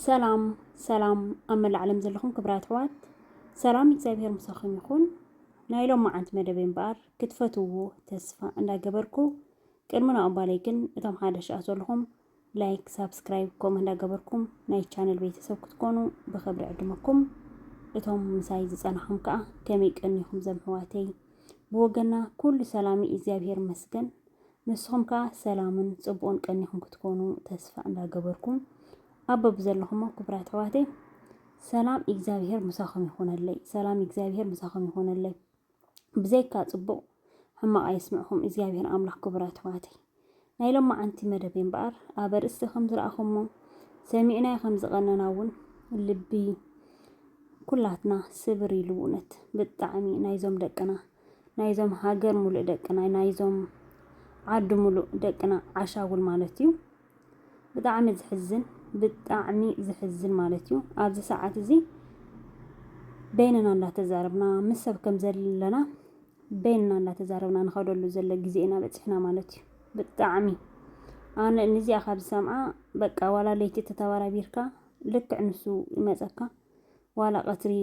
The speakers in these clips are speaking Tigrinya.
ሰላም ሰላም ኣብ መላእ ዓለም ዘለኹም ክብራት ኣሕዋት ሰላም እግዚኣብሔር ምሳኹም ይኹን። ናይ ሎም መዓንቲ መደበይ እምበኣር ክትፈትውዎ ተስፋ እንዳገበርኩ ቅድሚ ናብኡ ባለይ ግን እቶም ሓደሽ ኣ ዘለኹም ላይክ፣ ሳብስክራይብ ከምኡ እንዳገበርኩም ናይ ቻነል ቤተሰብ ክትኮኑ ብኽብሪ ዕድመኩም። እቶም ምሳይ ዝጸናኹም ከዓ ከመይ ቀኒኹም ዘም ኣሕዋተይ። ብወገና ኩሉ ሰላሚ እግዚኣብሔር ይመስገን። ንስኹም ከኣ ሰላምን ጽቡቕን ቀኒኹም ክትኮኑ ተስፋ እንዳገበርኩ ኣብ በብዘለኹሞ ክብራት ኣሕዋተይ ሰላም እግዚኣብሄር ምሳኹም ይኹነለይ ሰላም እግዚኣብሄር ምሳኹም ይኹነለይ ብዘይካ ጽቡቕ ሕማቕ ኣየስምዕኹም እግዚኣብሄር ኣምላኽ ክብራት ኣሕዋተይ ናይ ሎማዓንቲ መደብ እምበኣር ኣብ ኣርእስቲ ከም ዝረኣኹሞ ሰሚዕናዮ ከም ዝቐነና እውን ልቢ ኩላትና ስብር ኢሉ እውነት ብጣዕሚ ናይዞም ደቅና ናይዞም ሃገር ሙሉእ ደቅና ናይዞም ዓዲ ሙሉእ ደቅና ዓሻጉል ማለት እዩ። ብጣዕሚ ዝሕዝን ብጣዕሚ ዝሕዝን ማለት እዩ። ኣብዚ ሰዓት እዚ በይንና እንዳተዛረብና ምስ ሰብ ከም ዘለና በይንና እንዳተዛረብና ንኸደሉ ዘሎ ግዜ ኢና በፂሕና ማለት እዩ። ብጣዕሚ ኣነ ንዚኣ ካብ ዝሰምዓ በቃ ዋላ ለይቲ ተተባራቢርካ ልክዕ ንሱ ይመፀካ ዋላ ቀትሪ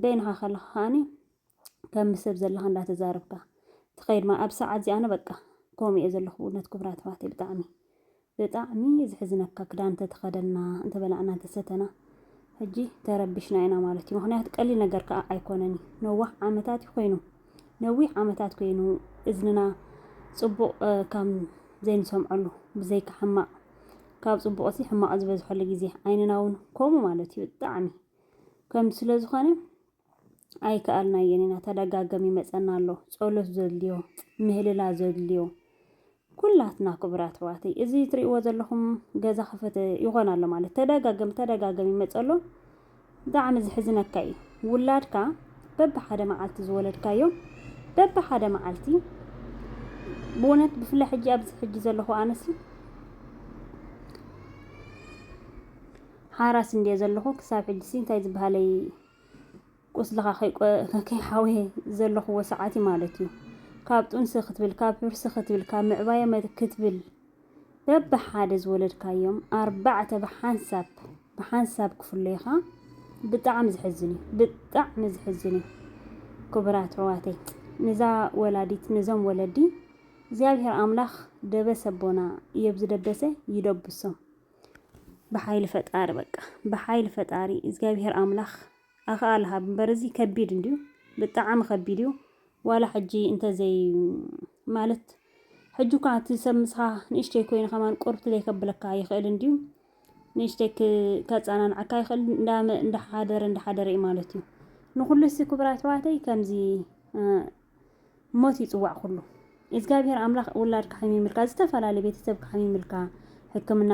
በይንኻ ከለኻ ከዓኒ ከም ምስ ሰብ ዘለኻ እንዳ ተዛረብካ ትኸይድ ማለት ኣብዚ ሰዓት እዚ ኣነ በቃ ከምኡ እየ ዘለኹ ብእውነት ክቡራት ኣሕዋተይ ብጣዕሚ ብጣዕሚ እዩ ዝሕዝነካ ክዳን እንተተኸደና እንተበላዕና እንተሰተና ሕጂ ተረቢሽና ኢና ማለት እዩ ምክንያቱ ቀሊል ነገር ከዓ ኣይኮነን እዩ ነዋሕ ዓመታት እዩ ኮይኑ ነዊሕ ዓመታት ኮይኑ እዝንና ፅቡቕ ካብ ዘይንሰምዐሉ ብዘይካ ሕማቕ ካብ ፅቡቕ ሲ ሕማቕ ዝበዝሐሉ ግዜ ዓይንና እውን ከምኡ ማለት እዩ ብጣዕሚ ከም ስለ ዝኾነ ኣይከኣልናዮን ኢና ተደጋገም ይመጸና ኣሎ ጸሎት ዘድልዮ ምህልላ ዘድልዮ ኩላትና ክቡራት ኣሕዋተይ እዚ ትሪእዎ ዘለኹም ገዛ ክፍት ይኾን ኣሎ ማለት ተደጋገም ተደጋገም ይመጸ ኣሎ ብጣዕሚ ዝሕዝነካ እዩ ውላድካ በብሓደ መዓልቲ ዝወለድካዮ በብሓደ መዓልቲ ብእውነት ብፍላይ ሕጂ ኣብዚ ሕጂ ዘለኹ ኣነሲ ሓራስ እንድየ ዘለኹ ክሳብ ሕጂሲ እንታይ ዝበሃለይ ቁስልኻ ከይሓውየ ዘለኹዎ ሰዓት እዩ ማለት እዩ። ካብ ጡንሲ ክትብል፣ ካብ ሕርሲ ክትብል፣ ካብ ምዕባየ ክትብል በብሓደ ዝወለድካዮም ኣርባዕተ ብሓንሳብ ብሓንሳብ ክፍለዩኻ ብጣዕሚ ዝሕዝን እዩ። ብጣዕሚ ዝሕዝን እዩ። ክቡራት ኣሕዋተይ ንዛ ወላዲት ነዞም ወለዲ እግዚኣብሔር ኣምላኽ ደበሰ ኣቦና የብዚ ደበሰ ይደብሶም። ብሓይሊ ፈጣሪ በቃ ብሓይሊ ፈጣሪ እግዚኣብሄር ኣምላኽ ኣኽኣለ ሃብ እምበር እዚ ከቢድ እንድዩ ብጣዕሚ ከቢድ እዩ ዋላ ሕጂ እንተዘይ ማለት ሕጂ እኳ እቲ ሰብ ምስኻ ንእሽተይ ኮይኑ ከማን ቁርብቲ ዘይከብለካ ይኽእል እንድዩ ንእሽተይ ከፃናንዓካ ይኽእል እንዳሓደረ እንዳሓደረ እዩ ማለት እዩ ንኩሉ ሲ ክቡራት ኣሕዋተይ ከምዚ ሞት ይጽዋዕ ኩሉ ኢዝጋብሄር ኣምላኽ ውላድካ ሐሚምልካ ዝተፋላለየ ቤተሰብካ ሐሚምልካ ሕክምና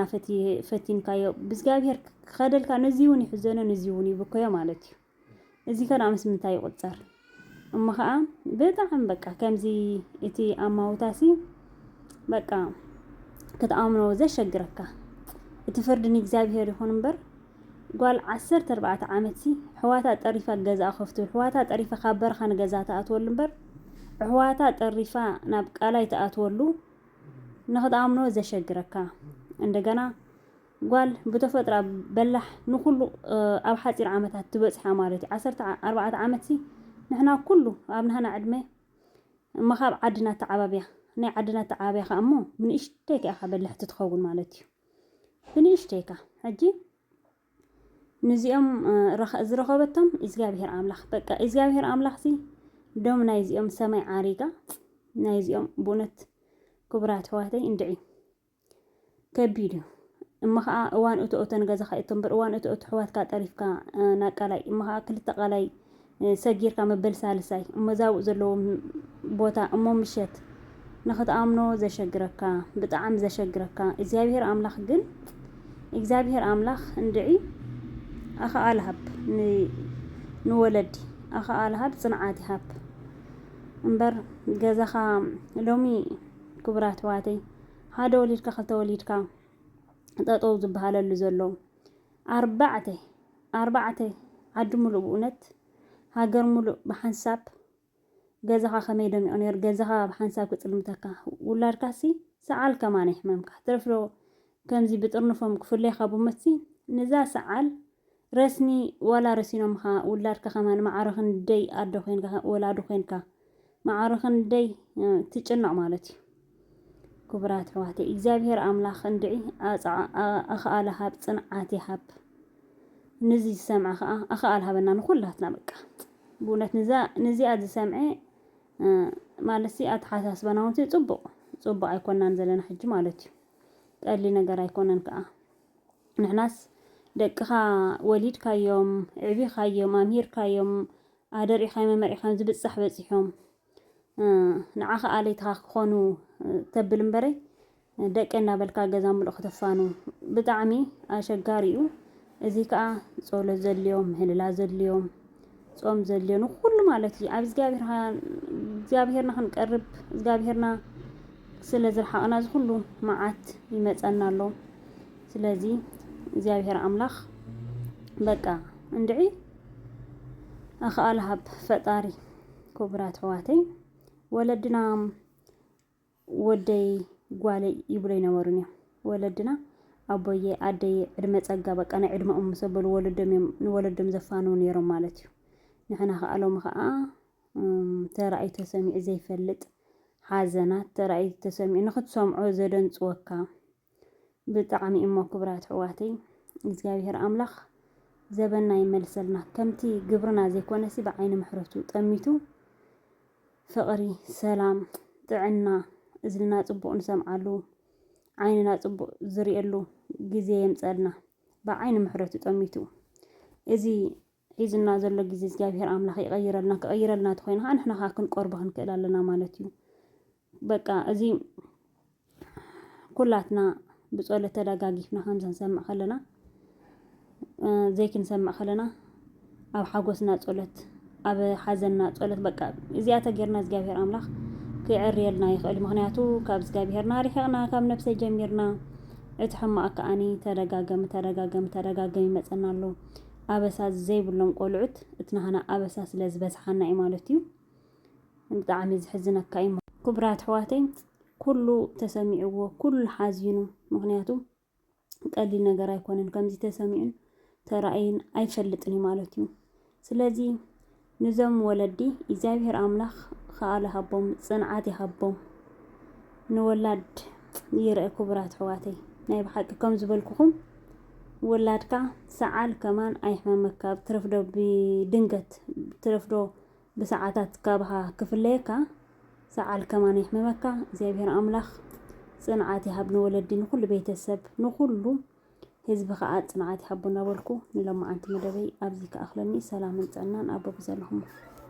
ፈቲንካዮ ብዝጋብሄር ክኸደልካ ነዚውን ይሕዘኖ ነዚውን ይብከዮ ማለት እዩ እዚ ከኣ ምስ ምንታይ ይቁጸር እሞ ከኣ በጣዕም በቃ ከምዚ እቲ ኣማውታሲ በቃ ክትኣምኖ ዘሸግረካ እቲ ፍርዲ ንእግዚኣብሄር ይኹን እምበር ጓል ዓሰርተ ኣርባዕተ ዓመትሲ ኣሕዋታ ጠሪፋ ገዝኣ ከፍቱ ኣሕዋታ ጠሪፋ ካብ በረኻ ንገዝኣ ትኣትወሉ እምበር ኣሕዋታ ጠሪፋ ናብ ቃላይ ትኣትወሉ ንክትኣምኖ ዘሸግረካ እንደገና ጓል ብተፈጥራ በላሕ ንኩሉ ኣብ ሓፂር ዓመታት ትበፅሓ ማለት እዩ ዓሰርተ ኣርባዕተ ዓመትሲ ንሕና ኩሉ ኣብ ናህና ዕድመ እማ ካብ ዓድና ተዓባብያ ናይ ዓድና ተዓባብያ ከዓ እሞ ብንእሽተይ ከኣኻ በላሕቲ ትኸውን ማለት እዩ ብንእሽተይ እካ ሕጂ ንዚኦም ዝረኸበቶም እግዚኣብሄር ኣምላኽ በቃ እግዚኣብሄር ኣምላኽ ሲ ዶም ናይዚኦም ሰማይ ዓሪጋ ናይዚኦም ብእውነት ክቡራት ኣሕዋተይ እንድዒ ከቢድ እዩ እሞ ከዓ እዋን እቶ እተን ገዛኻ እቶ እምበር እዋን እቶ እቶ ኣሕዋትካ ጠሪፍካ ናብ ቃላይ እሞ ከዓ ክልተ ቃላይ ሰጊርካ መበል ሳልሳይ እሞ ዛብኡ ዘለዎም ቦታ እሞ ምሸት ንኽትኣምኖ ዘሸግረካ ብጣዕሚ ዘሸግረካ እግዚኣብሔር ኣምላኽ ግን እግዚኣብሔር ኣምላኽ እንድዒ ኣኸኣል ሃብ ንወለዲ ኣኸኣል ሃብ ጽንዓት ይሃብ እምበር ገዛኻ ሎሚ ክቡራት ኣሕዋተይ ሓደ ወሊድካ ክልተ ወሊድካ ጠጠው ዝበሃለሉ ዘሎ ኣርባዕተ ኣርባዕተ ዓዲ ሙሉእ ብኡነት ሃገር ሙሉእ ብሓንሳብ ገዛኻ ከመይ ደሚቁ ነይሩ ገዛኻ ብሓንሳብ ክጽልምተካ ውላድካሲ ሰዓል ከማን ይሕመምካ ትረፍዶ ከምዚ ብጥርንፎም ክፍለዩኻ ብሞትሲ ንዛ ሰዓል ረስኒ ዋላ ረሲኖምኻ ውላድካ ከማን ማዕረ ክንደይ ኣደ ኮይንካ ወላዲ ኮይንካ ማዕረ ክንደይ ትጭነቕ ማለት እዩ። ክቡራት ኣሕዋተይ እግዚኣብሄር ኣምላኽ እንድዒ ኣኽኣለ ሃብ ጽንዓት ይሃብ ንዚ ዝሰምዐ ከዓ ኣኽኣል ሃበና ንኩላትና በቃ ብእውነት ንዚኣ ዝሰምዐ ማለት ኣተሓሳስባና እውን ጽቡቕ ጽቡቕ ኣይኮናን ዘለና ሕጂ ማለት እዩ ቀሊ ነገር ኣይኮነን ከዓ ንሕናስ ደቅኻ ወሊድካዮም ዕቢኻዮም ኣምሂርካዮም ኣደሪዕካዮም ኣመሪዕካዮም ዝብጻሕ በጺሖም ንዓኻ ኣለይትኻ ክኾኑ ተብል እምበረ ደቂ እናበልካ ገዛ ምሉእ ከተፋኑ ብጣዕሚ ኣሸጋሪ እዩ። እዚ ከዓ ጸሎት ዘድልዮም ምህልላ ዘድልዮም ጾም ዘድልዮ ንኩሉ ማለት እዩ ኣብ እግዚኣብሄርና ክንቀርብ እግዚኣብሄርና ስለ ዝረሓቕና እዚ ኩሉ መዓት ይመፀና ኣሎ ስለዚ እግዚኣብሄር ኣምላኽ በቃ እንድዒ ኣኽኣሎ ሃብ ፈጣሪ ክቡራት ኣሕዋተይ ወለድና ወደይ ጓለይ ይብሉ ኣይነበሩን እዮም ወለድና ኣቦየ ኣደየ ዕድመ ጸጋ በቃ ናይ ዕድመኦም ምስ ኣበሉ ወለዶም እዮም ንወለዶም ዘፋንዉ ነይሮም ማለት እዩ ንሕና ከዓ ሎሚ ከዓ ተራእዩ ተሰሚዑ ዘይፈልጥ ሓዘናት ተራእዩ ተሰሚዑ ንክትሰምዖ ዘደንፅወካ ብጣዕሚ እሞ ክብራት ኣሕዋተይ እግዚኣብሔር ኣምላኽ ዘበና ይመልሰልና ከምቲ ግብርና ዘይኮነሲ ብዓይኒ ምሕረቱ ጠሚቱ ፍቕሪ ሰላም ጥዕና እዝንና ጽቡቕ ንሰምዓሉ ዓይንና ጽቡቕ ዝርእየሉ ግዜ የምጸልና ብዓይኒ ምሕረቱ ጠሚቱ እዚ ሒዙና ዘሎ ግዜ እግዚኣብሄር ኣምላኽ ይቐይረልና፣ ክቕይረልና ተኾይኑ ኸኣ ንሕና ኸኣ ክንቆርቦ ክንክእል ኣለና ማለት እዩ። በቃ እዚ ኩላትና ብጸሎት ተደጋጊፍና ከምዚ ክንሰምዕ ከለና ዘይክንሰምዕ ከለና ኣብ ሓጎስና ጸሎት ኣብ ሓዘንና ጸሎት በቃ እዚኣ ተጌርና እግዚኣብሄር ኣምላኽ ክዕርየልና ይኽእል። ምክንያቱ ካብ እግዚኣብሄርና ርሒቕና ካብ ነብሰይ ጀሚርና እቲ ሕማቕ ከኣኒ ተደጋገሚ ተደጋገሚ ተደጋገሚ ይመጸና ኣሎ። ኣበሳ ዘይብሎም ቆልዑት እት ናህና ኣበሳ ስለ ዝበዝሓና እዩ ማለት እዩ ብጣዕሚ ዝሕዝነካ እዩ ኩብራት ኣሕዋተይ ኩሉ ተሰሚዕዎ ኩሉ ሓዚኑ ምክንያቱ ቀሊል ነገር ኣይኮነን ከምዚ ተሰሚዑን ተራእይን ኣይፈልጥን እዩ ማለት እዩ ስለዚ ንዞም ወለዲ ኢግዚኣብሄር ኣምላክ ክኣል ይሃቦም ጽንዓት ይሃቦም ንወላድ ይርእ ክቡራት ኣሕዋተይ ናይ ብሓቂ ከም ዝበልኩኹም ወላድካ ሰዓል ከማን ኣይሕመመካ ኣብ ትረፍዶ ብድንገት ትረፍዶ ብሰዓታት ካብኻ ክፍለየካ ሰዓል ከማን ኣይሕመመካ እግዚኣብሄር ኣምላኽ ጽንዓት ይሃብ ንወለዲ ንኹሉ ቤተሰብ ንኹሉ ህዝቢ ከኣ ጽንዓት ይሃቦ እንዳበልኩ ንሎማዓንቲ መደበይ ኣብዚ ክኣኽለኒ ሰላምን ጥዕናን ኣብ በብዘለኹሞ